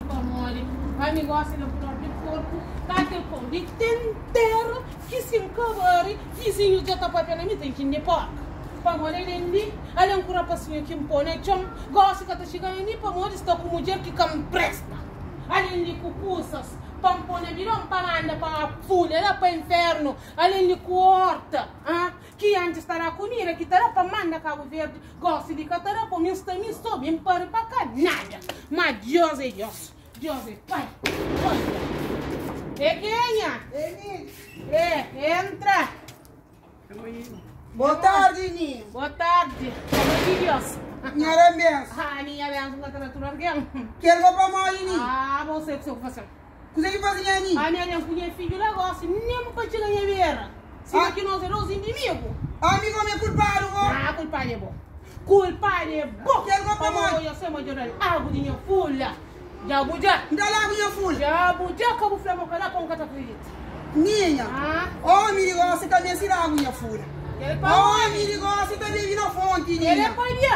Pamodi pa mi gosi na bu propi korpu, ta kel pon di ten tera ki si N kabari, vizinhus dja ta papia na mi ten ki N di porka. Pamodi alen di alen ku rapasinhu ki N po na txon, gosi ka ta txiga na mi pamodi sta ku mudjer ki ka N presta. Alen di ku kusas pa N po na bidon pa N anda pa fúnera, pa infernu, alen di ku orta, ha Ki antis ta da kumida ki ta da pa manda Kabu Verdi, gosi li ka ta da pa mi, nsta mi so ben pari pa ka nada. Ma Dios e Dios, Dios e Pai, olha. E kenha? E Ninho. E, entra. Boa tarde, Ninho. Boa tarde. Como que Dios? Minha era benção. Ah, minha benção, que tá tudo alguém. Quero vou pra mole, Ninho. Ah, você que sou você. Kuzê ki faze nha ami? Ami aden ku nha fidju la gosi, nen bu pa txiga nha bera, sima ki nos é dos indimigu. Ami gomi é kulpadu bo? Nan, kulpadu é bo. Kulpadu é bo! Kel gobi pamodi? Pamodi nhos tema dja da-l agu di nha fula. Dja bu dja? N da-l agu nha fula? Dja bu dja? Ka bu fla ma bu ka da, pô, N ka ta kridita. Minha. Nan. Omi di gosi ta meste da agu nha fula. Kel pamodi? Omi di gosi ta bebe na fonti minha. Kel é pabia?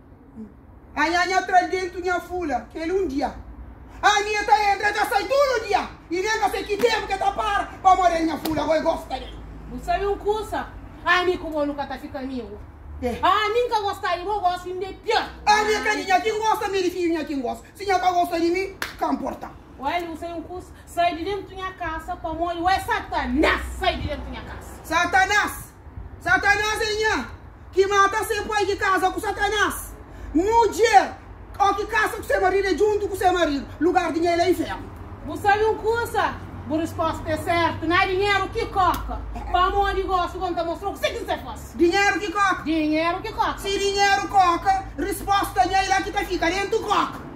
A nha nha tra-l dentu nha fula kel un dia Ami e ta entra e ta sai tudu dia I nen ka sai ki tenpu ke ta para Pa amor del nha fula goi gosta del. Bu sabe un kusa? Ami ku bo nu ka ta fika amigu Ami nka gosta di bo gosi inda e pior Ami e ka di nha kin gosta mi di fiju nha kin gosi Si nha ka gosta di mi ka mporta. Oel bu sabe un kusa? Sai di dentu nha kasa pamodi oel Satanas sai di dentu nha kasa. Satanas Satanás é nha ki mata se pai ki kaza ku satanás mudjer o ki kasa ku se maridu é djuntu ku se maridu lugar di nha el é inférnu. Bu sabe un kusa? Bu resposta é sértu na dinheru ki koka pamodi gosi kon ta mostra-u kuse ki nse fase. Dinheru ki koka. Dinheru ki koka. Si dinheru koka, resposta nha ilá ki ta fika dentu koka.